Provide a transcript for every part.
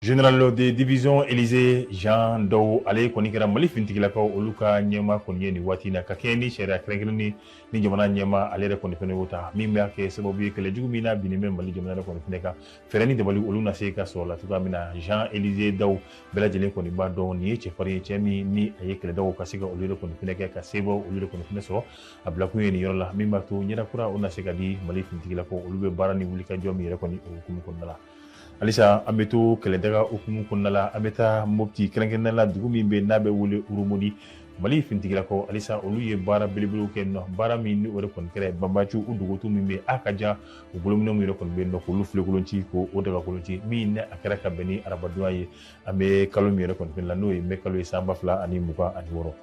Général de division Élisée Jean Dao ale kɔni kɛra Mali finitigilakaw olu ka ɲɛma kɔni ye nin waati in na ka kɛɲɛ ni sariya kɛrɛnkɛrɛnnen ni jamana ɲɛma ale yɛrɛ kɔni fɛnɛ y'o ta min b'a kɛ sababu ye kɛlɛ jugu min n'a binnen bɛ Mali jamana yɛrɛ kɔni fɛnɛ kan fɛɛrɛ ni dabali olu na se ka sɔrɔ la cogoya min na Jean Élisée Dao bɛɛ lajɛlen kɔni b'a dɔn nin ye cɛfarin ye cɛ min ni a ye kɛlɛdaw ka se ka olu yɛrɛ kɔni fɛnɛ kɛ ka sebaw olu yɛrɛ kɔni fɛnɛ sɔrɔ a bilakun ye nin yɔrɔ la min b'a to ɲɛda kura o na se ka di mali finitigilakaw olu bɛ baara ni wulikajɔ min yɛrɛ kɔni o hukumu kɔnɔna la halisa an bɛ to kɛlɛdaga hukumu kɔnɔna la an bɛ taa mopti kɛrɛnkɛrɛnnen la dugu min bɛ n'a bɛ wele urumodi mali finitigilakaw halisa olu ye baara belebelew kɛ nɔ baara min ni o de kɔni kɛra banbaanciw dogotu min bɛ a ka jan u bolominɛn min yɛrɛ kɔni bɛ yen nɔ k'olu filekolon ci k'o dagakolon ci min ni a kɛra ka bɛn ni arabadonya ye an bɛ kalo min yɛrɛ kɔni fɛnɛ la n'o ye mɛ kalo ye san ba fila ani mugan ani wɔɔrɔ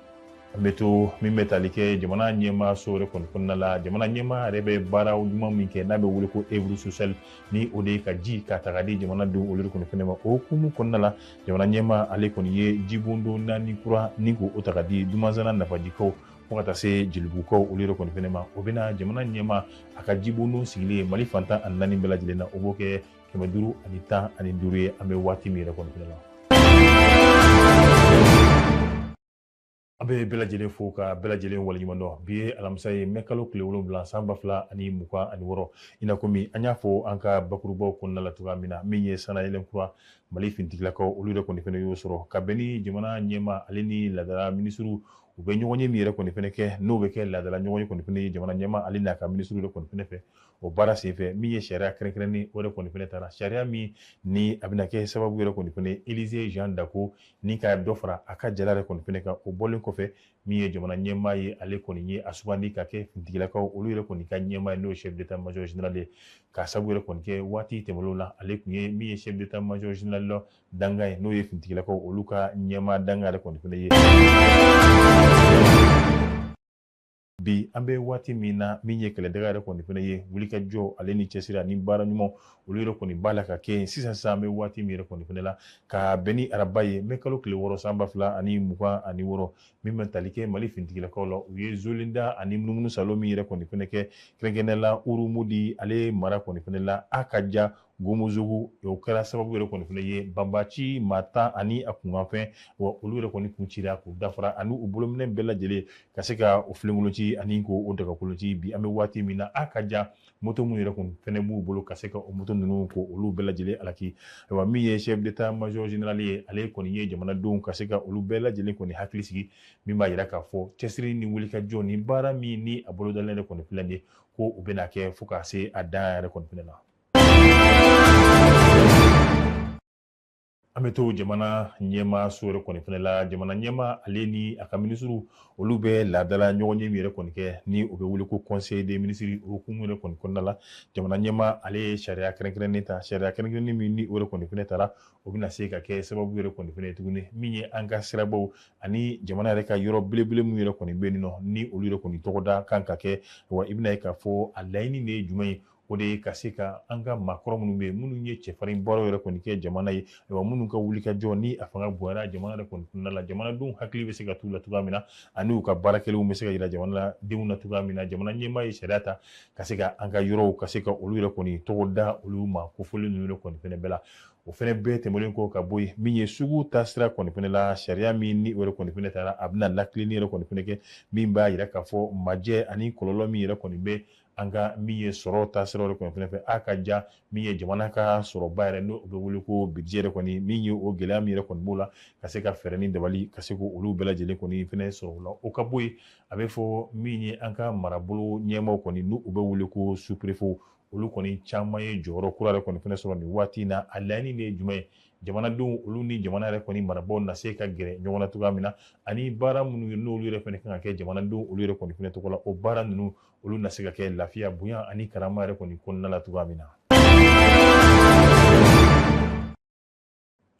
an bɛ to min bɛ tali kɛ jamana ɲɛma so yɛrɛ kɔni kɔnɔna la jamana ɲɛma yɛrɛ bɛ baara ɲuman min kɛ n'a bɛ wele ko œuvre sociale ni o de ye ka ji ka ta k'a di jamanadenw olu kɔni fɛnɛ ma o hukumu kɔnɔna la jamana ɲɛma ale kɔni ye jibondon naani kura ni k'o ta k'a di dumanzana nafajikaw fo ka taa se jelibugukaw olu yɛrɛ kɔni fɛnɛ ma o bɛna jamana ɲɛma a ka jibondon sigilen ye mali fan tan ani naani bɛɛ lajɛlen na o b'o kɛ kɛmɛ duuru ani tan ani duuru ye an bɛ waati min yɛrɛ kɔni fɛnɛ la an bɛ bɛɛ lajɛlen fo ka bɛɛ lajɛlen waleɲuman dɔn bi ye alamisa ye mɛ kalo tile wolonwula san ba fila ani mugan ani wɔɔrɔ i n'a komi an y'a fɔ an ka bakurubaw kɔnɔna la cogoya min na min ye sanayɛlɛn kura mali fintigilakaw olu yɛrɛ kɔni fɛnɛ y'o sɔrɔ ka bɛn ni jamana ɲɛma ale ni laadala minisiriw u bɛ ɲɔgɔnye min yɛrɛ kɔni fɛnɛ kɛ n'o bɛ kɛ laadala ɲɔgɔnye kɔni fɛnɛ ye jamana ɲɛmaa ale n'a ka minisiriw yɛrɛ kɔni fɛnɛ fɛ o baara senfɛ min ye sariya kɛrɛnkɛrɛnnen o yɛrɛ kɔni fɛnɛ tara sariya min ni a bɛna kɛ sababu yɛrɛ kɔni fɛnɛ ye Élisée Jean Dao kɔni ka dɔ fara a ka jala yɛrɛ kɔni fɛnɛ kan o bɔlen kɔfɛ min ye jamana ɲɛmaa ye ale kɔni ye a sugandi ka kɛ fintigilakaw olu yɛrɛ kɔni ka ɲɛmaa ye n'o ye chef d'état major général ye k'a sababu yɛrɛ kɔni kɛ waati tɛmɛnlenw na ale tun ye min ye chef d'état major général la dankan ye n'o ye fintigilakaw olu ka ɲɛmaa dankan yɛrɛ kɔni fɛnɛ ye bi an bɛ waati min na min ye kɛlɛdaga yɛrɛ kɔni fɛnɛ ye wulikajɔ ale ni cɛsiri ani baara ɲuman olu yɛrɛ kɔni b'a la ka kɛ yen sisan sisan an bɛ waati min yɛrɛ kɔni fɛnɛ la ka bɛn ni araba ye mɛ kalo tile wɔɔrɔ san ba fila ani mugan ani wɔɔrɔ min bɛ tali kɛ mali fintigilakaw la u ye zolinda ani munumunu saalo min yɛrɛ kɔni fɛnɛ kɛ kɛrɛnkɛrɛnnenya la urumudi ale mara kɔni fɛnɛ la a ka ja gomozogo o kɛra sababu yɛrɛ kɔni fɛnɛ ye banbaanci maa tan ani a kunkanfɛn wa olu yɛrɛ kɔni kun cira k'u dafara ani u bolominɛ bɛɛ lajɛlen ka se ka o filenkolonci ani ko o dagakolonci bi an bɛ waati min na a ka ja moto minnu yɛrɛ kɔni fɛnɛ b'u bolo ka se ka o moto ninnu ko olu bɛɛ lajɛlen alaki ayiwa min ye chef d'état major général ye ale kɔni ye jamanadenw ka se ka olu bɛɛ lajɛlen kɔni hakili sigi min b'a yira k'a fɔ cɛsiri ni wulikajɔ ni baara min ni a bolodalen yɛrɛ kɔni filɛ nin ye ko u bɛna kɛ fo ka se a dan yɛrɛ kɔni fɛnɛ la an bɛ to jamana ɲɛmaa so yɛrɛ kɔni fɛnɛ la jamana ɲɛmaa ale ni a ka minisiriw olu bɛ laadala ɲɔgɔnye min yɛrɛ kɔni kɛ ni o bɛ wele ko conseil des ministres o hukumu yɛrɛ kɔni kɔnɔna la jamana ɲɛmaa ale ye sariya kɛrɛnkɛrɛnnen ta sariya kɛrɛnkɛrɛnnen min ni o yɛrɛ kɔni fɛnɛ tara o bɛna se ka kɛ sababu yɛrɛ kɔni fɛnɛ ye tuguni min ye an ka sirabaw ani jamana yɛrɛ ka yɔrɔ belebele min yɛrɛ kɔni bɛ yen nɔ ni olu yɛrɛ kɔni tɔgɔda kan ka kɛ wa i bɛn'a ye k'a fɔ a laɲini de ye jumɛn ye o de ye ka se ka an ka maakɔrɔ minnu bɛ yen minnu ye cɛfarin baaraw yɛrɛ kɔni kɛ jamana ye wa minnu ka wulikajɔ ni a fanga bonyara jamana yɛrɛ kɔni kɔnɔna la jamanadenw hakili bɛ se ka t'u la cogoya min na ani u ka baara kɛlenw bɛ se ka yira jamanadenw na cogoya min na jamana ɲɛmaa ye sariya ta ka se ka an ka yɔrɔw ka se ka olu yɛrɛ kɔni tɔgɔ da olu ma kofɔlen ninnu yɛrɛ kɔni fɛnɛ bɛɛ la o fɛnɛ bɛɛ tɛmɛnen kɔ ka bɔ yen min ye sugu taasira kɔni fɛnɛ la sariya min ni o yɛrɛ kɔni fɛnɛ tara a bɛna latilenni yɛrɛ kɔni fɛnɛ kɛ min b'a yira k'a fɔ majɛ ani kɔlɔlɔ min yɛrɛ kɔni bɛ an ka min ye sɔrɔ taasira yɛrɛ kɔni fɛnɛ fɛ a ka ja min ye jamana ka sɔrɔba yɛrɛ n'o bɛ wele ko budget yɛrɛ kɔni min ye o gɛlɛya min yɛrɛ kɔni b'o la ka se ka fɛɛrɛ ni dabali ka se k'olu bɛɛ lajɛlen kɔni fɛnɛ sɔrɔ o la o ka bɔ yen a bɛ fɔ min ye an ka marabolo ɲɛmaaw kɔni n'u bɛ wele ko sous-préfet olu kɔni caman ye jɔyɔrɔ kura yɛrɛ kɔni fɛnɛ sɔrɔ nin waati in na a laɲini de ye jumɛn ye jamanadenw olu ni jamana yɛrɛ kɔni marabaaw na se ka gɛrɛ ɲɔgɔn na cogoya min na ani baara minnu ye n'olu yɛrɛ fɛnɛ kan ka kɛ jamanadenw olu yɛrɛ kɔni fɛnɛ tɔgɔ la o baara ninnu olu na se ka kɛ lafiya bonya ani karama yɛrɛ kɔni kɔnɔna la cogoya min na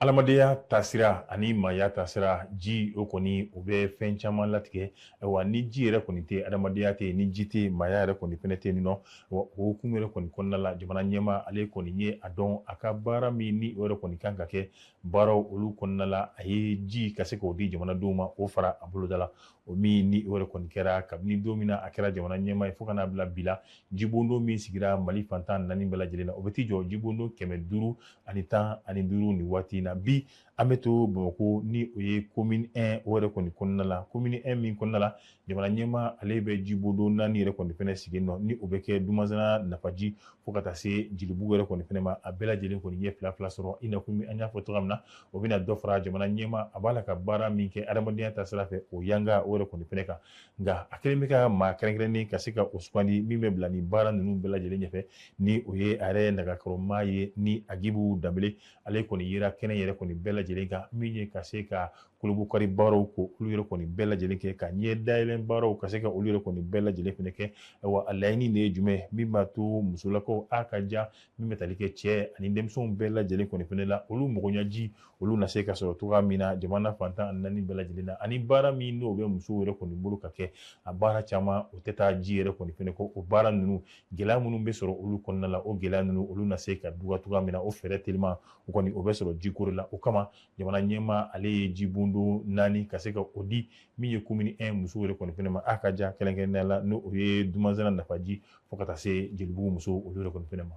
adamadenya taasira ani maaya taasira ji o kɔni o bɛ fɛn caman latigɛ wa ni ji yɛrɛ kɔni tɛ adamadenya tɛ ni ji tɛ maaya yɛrɛ kɔni fɛnɛ tɛ yen nɔ wa o hukumu yɛrɛ kɔni kɔnɔna la jamana ɲɛmaa ale kɔni ye a dɔn a ka baara min ni o yɛrɛ kɔni kan ka kɛ baaraw olu kɔnɔna la a ye ji ka se k'o di jamanadenw ma o fara a boloda la o min ni o yɛrɛ kɔni kɛra kabini don min na a kɛra jamana ɲɛmaa ye fo ka n'a bila bi la jibondon min sigira mali fan tan naani bɛɛ lajɛlen na o bɛ t'i jɔ jibondon kɛmɛ duuru ani tan ani duuru nin waati in na bi an bɛ to bamakɔ ni o ye commune 1 o yɛrɛ kɔni kɔnɔna la commune 1 min kɔnɔna la jamana ɲɛmaa ale bɛ jibondon naani yɛrɛ kɔni fɛnɛ sigi nɔ ni o bɛ kɛ dumanzana nafaji fo ka taa se jelibugu yɛrɛ kɔni fɛnɛ ma a bɛɛ lajɛlen kɔni ye fila fila sɔrɔ i na komi an y'a fɔ cogoya min na o bɛna dɔ fara jamana ɲɛmaa b'a la ka baara min kɛ adamadenya ta sira fɛ o yanga o yɛrɛ kɔni fɛnɛ kan nka a kɛlen bɛ ka maa kɛrɛnkɛrɛnnen ka se ka o sugandi min bɛ bila nin baara ninnu bɛɛ lajɛlen ɲɛfɛ ni o ye a yɛrɛ nagakɔrɔmaa ye ni agibu danbele ale kɔni yera kɛnɛ yɛrɛ kɔni bɛɛ lajɛlen kan min ye ka se ka kurunbonkari baaraw ko olu yɛrɛ kɔni bɛɛ lajɛlen kɛ ka ɲɛ dayɛlɛn baaraw ka se ka olu yɛrɛ kɔni bɛɛ lajɛlen fɛnɛ kɛ wa a laɲini de ye jumɛn min b'a to musolakaw a ka ja min bɛ tali kɛ cɛ ani denmisɛnw bɛɛ lajɛlen kɔni fɛnɛ la olu magoɲaji olu na se ka sɔrɔ cogoya min na jamana fan tan ani naani bɛɛ lajɛlen na ani baara min n'o bɛ musow yɛrɛ kɔni bolo ka kɛ a baara caman o tɛ taa ji yɛrɛ kɔni fɛnɛ kɔ o baara ninnu gɛlɛya minnu bɛ sɔrɔ olu kɔnɔna la o gɛlɛya ninnu olu na se ka dɔgɔya cogoya min na o fɛɛrɛ teliman o kɔni o bɛ sɔrɔ jiko de la o kama jamana ɲɛmaa ale ye jibondo naani ka se ka o di min ye komini 1 musow yɛrɛ kɔni fɛnɛ ma a ka ja kɛrɛnkɛrɛnnenya la n'o ye dumanzana nafaji fo ka taa se jelibugu musow olu yɛrɛ kɔni fɛnɛ ma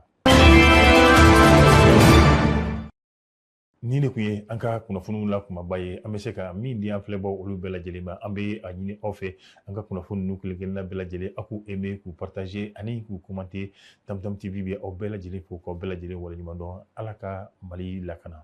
nin de kun ye an ka kunnafoniw la kunbaba ye an bɛ se ka min di an filɛbaw olu bɛɛ lajɛlen ma an bɛ a ɲini aw fɛ an ka kunnafoni ninnu kelen kelenna bɛɛ lajɛlen a k'u aimer k'u partager ani k'u commenter tamtam tv bɛ aw bɛɛ lajɛlen fo k'aw bɛɛ lajɛlen waleɲuman dɔn ala ka mali lakana